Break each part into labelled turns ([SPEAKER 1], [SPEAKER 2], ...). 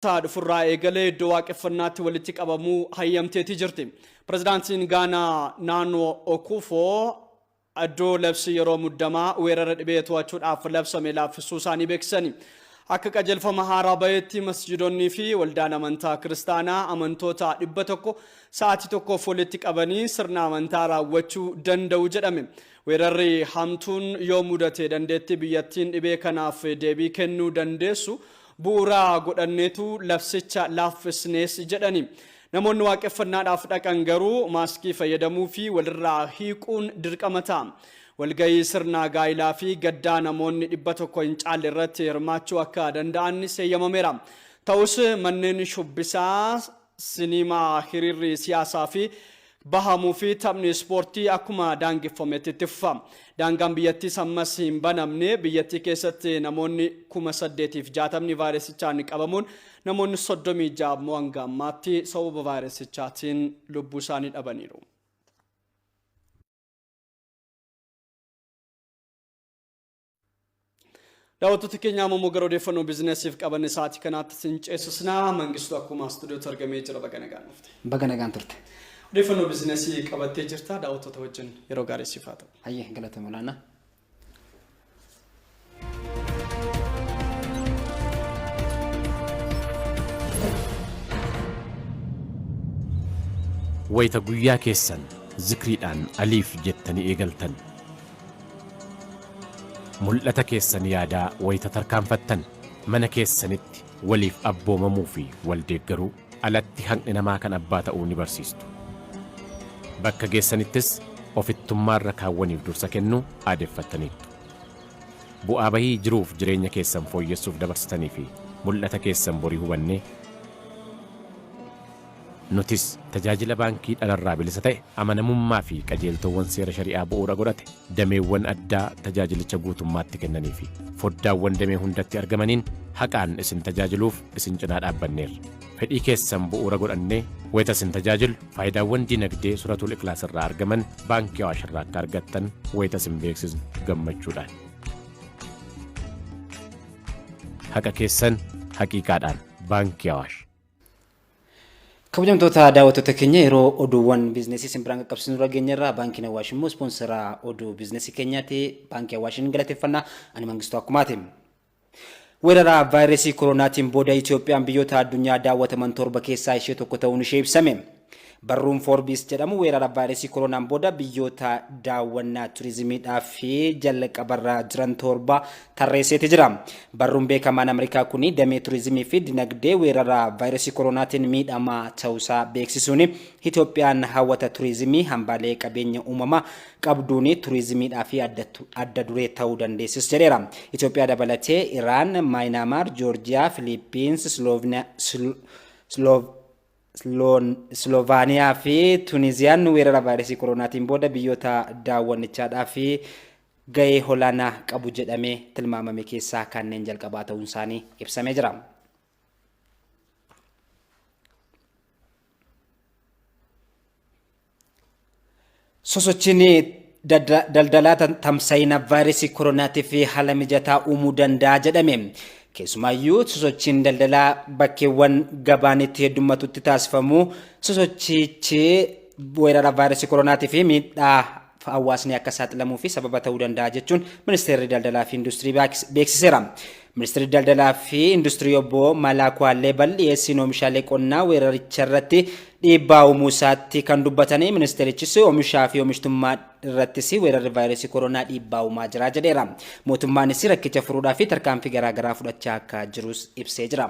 [SPEAKER 1] Sa'a dhufurraa eegalee iddoo waaqeffannaatti walitti qabamuu hayyamteetii jirti. Pirezidaantiin Gaanaa Naanoo Okuufoo iddoo labsii yeroo muddamaa weerara dhibee to'achuudhaaf labsame laaffisuu isaanii beeksisani. Akka qajeelfama haaraa baheetti masjiidonnii fi waldaan amantaa kiristaanaa amantoota dhibba tokko sa'aatii tokkoof walitti qabanii sirna amantaa raawwachuu danda'u jedhame. Weerarri hamtuun yoo mudate dandeettii biyyattiin dhibee kanaaf deebii kennuu dandeessu bu'uura godhanneetu labsicha laaffisnes jedhani. Namoonni waaqeffannaadhaaf dhaqan garuu maaskii fayyadamuu fi walirraa hiiquun dirqama ta'a. Walgahii sirna gaa'ilaa fi gaddaa namoonni 100 hin caalle irratti hirmaachuu akka danda'an seeyyamameera. Ta'us manneen shubbisaa Siniimaa, hiriirri siyaasaa fi bahamuu fi taphni ispoortii akkuma daangeffametti itti fufa. Daangaan biyyattiis ammas hin banamne. Biyyattii keessatti namoonni 8,060 vaayirasichaan qabamuun namoonni 36 ammoo hanga ammaatti sababa vaayirasichaatiin lubbuu isaanii dhabaniiru. Daawwattoota keenya amma immoo gara odeeffannoo biizinasiif qabanne sa'aatii kanaatti sin ceesisna. Mangistuu akkuma istuudiyootti argamee jira baga nagaan dhufte. Baga nagaan turte.
[SPEAKER 2] Odeeffannoo biizinasii
[SPEAKER 1] qabattee jirta daawwattoota wajjin yeroo gaarii siif haa ta'u. Hayyee galatoomi olaanaa.
[SPEAKER 3] wayita guyyaa keessan zikriidhaan aliif jettanii eegaltan Mul'ata keessan yaadaa wayita tarkaanfattan, mana keessanitti waliif abboomamuu fi wal deeggaruu alatti haqni namaa kan abbaa ta'uu ni barsiistu. Bakka geessanittis ofittummaa irra kaawwaniif dursa kennuu aadeffattaniittu. Bu'aa bahii jiruuf jireenya keessan fooyyessuuf dabarsitanii fi mul'ata keessan borii hubannee, Nutis tajaajila baankii dhalarraa bilisa ta'e, amanamummaa fi qajeeltoowwan seera shari'aa bu'uura godhate dameewwan addaa tajaajilicha guutummaatti kennanii fi foddaawwan damee hundatti argamaniin haqaan isin tajaajiluuf isin cinaa dhaabbanneerra. Fedhii keessan bu'uura godhannee wayita isin tajaajillu faayidaawwan dinagdee Suratul Iklaas irraa argaman Baankii Awaash irraa akka argattan wayita isin beeksisnu gammachuudhaan. Haqa keessan haqiiqaadhaan Baankii Awaash. Kabajamtoota
[SPEAKER 2] daawwattoota keenya yeroo oduuwwan biizinesii isin biraan qaqqabsiisnu irra geenye irraa baankiin Awaash immoo ispoonsaraa oduu biizinesii keenyaati. Baankii Awaashin galateeffannaa ani Mangistuu Akkumaati. Weeraraa vaayirasii koroonaatiin booda Itoophiyaan biyyoota addunyaa daawwataman torba keessaa ishee tokko ta'uun ishee ibsame. Barruun Forbes jedhamu weerara vaayiresii koroonaan booda biyyoota daawwannaa turizimiidhaaf jalqabarra jiran torba tarreesseeti jira. Barruun beekamaan Ameerikaa kun damee turizimii fi dinagdee weerara vaayiresii koroonaatiin miidhamaa ta'uusaa beeksisuun Itoophiyaan hawwata turizimii hambaalee qabeenya uumamaa qabduun turizimiidhaaf adda duree ta'uu dandeessis jedheera. Itoophiyaa dabalatee Iraan, Maayinaamaar, Joorjiyaa, Filiippiins, Sloovina, Sloov, Isloovaaniyaa fi Tuniziyaan weerara vaayiresii koroonaatiin booda biyyoota daawwannichaadhaaf gahee olaanaa qabu jedhamee tilmaamame keessaa kanneen jalqabaa ta'uun isaanii ibsamee jira. Sosochiin daldalaa tamsa'ina vaayirasii koronaatiif haala mijataa uumuu danda'a jedhame. Keessumaayyuu sosochiin daldalaa bakkeewwan gabaan itti heddummatutti taasifamu sosochichi weerara vaayirasii koronaatii fi miidhaa hawaasni akka saaxilamuu fi sababa ta'uu danda'a jechuun ministeerri daldalaa fi industirii beeksiseera. Ministirri Daldalaa fi Industirii Obbo Malaaku Halleebal dhiyeessiin oomishaalee qonnaa weeraricharratti dhiibbaa uumuu isaatti kan dubbatanii ministeerichis oomishaa fi oomishtummaa irrattis weerarri vaayirasii koronaa dhiibbaa uumaa jira jedheera. Mootummaanis rakkicha furuudhaaf tarkaanfii garaagaraa fudhachaa akka jirus ibsee jira.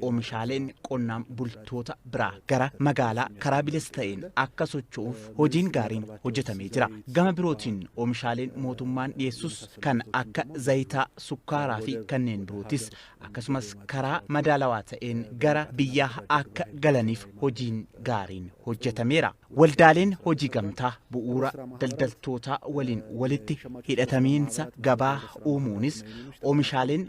[SPEAKER 4] Oomishaaleen qonnaan bultoota biraa gara magaalaa karaa bilisa ta'een akka socho'uuf hojiin gaariin hojjetamee jira. Gama birootiin oomishaaleen mootummaan dhiyeessus kan akka zayitaa, sukkaaraa fi kanneen birootis akkasumas karaa madaalawaa ta'een gara biyyaa akka galaniif hojiin gaariin hojjetameera. Waldaaleen hojii gamtaa bu'uura daldaltootaa waliin walitti hidhatamiinsa gabaa uumuunis oomishaaleen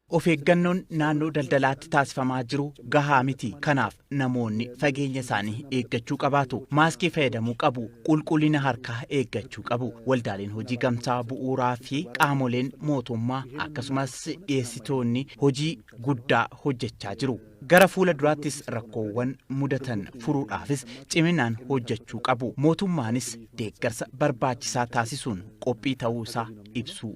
[SPEAKER 5] Of eeggannoon
[SPEAKER 4] naannoo daldalaatti taasifamaa jiru gahaa miti. Kanaaf namoonni fageenya isaanii eeggachuu qabaatu. Maaskii fayyadamuu qabu. Qulqullina harkaa eeggachuu qabu. Waldaaleen hojii gamtaa bu'uuraa fi qaamoleen mootummaa akkasumas dhiyeessitoonni hojii guddaa hojjechaa jiru. Gara fuula duraattis rakkoowwan mudatan furuudhaafis ciminaan hojjechuu qabu. Mootummaanis deeggarsa barbaachisaa taasisuun qophii ta'uu isaa ibsuu.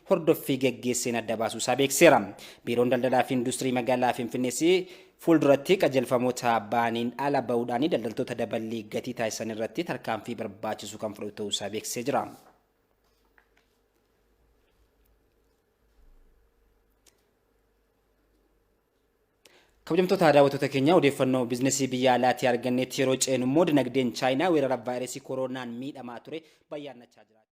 [SPEAKER 2] hordoffii gaggeesseen adda baasuu isaa beeksiseera. Biiroon Daldalaa fi Industirii Magaalaa Finfinnees fuulduratti qajeelfamoota ba'aniin ala ba'uudhaan daldaltoota daballii gatii taasisan irratti tarkaanfii barbaachisu kan fudhatu ta'uu isaa beeksisee jira. Kabajamtoota daawwattoota keenya odeeffannoo biizinasii biyya alaatii arganneetti yeroo ceenu immoo dinagdeen Chaayinaa weerara vaayirasii kooroonaan miidhamaa ture bayyaannachaa jira.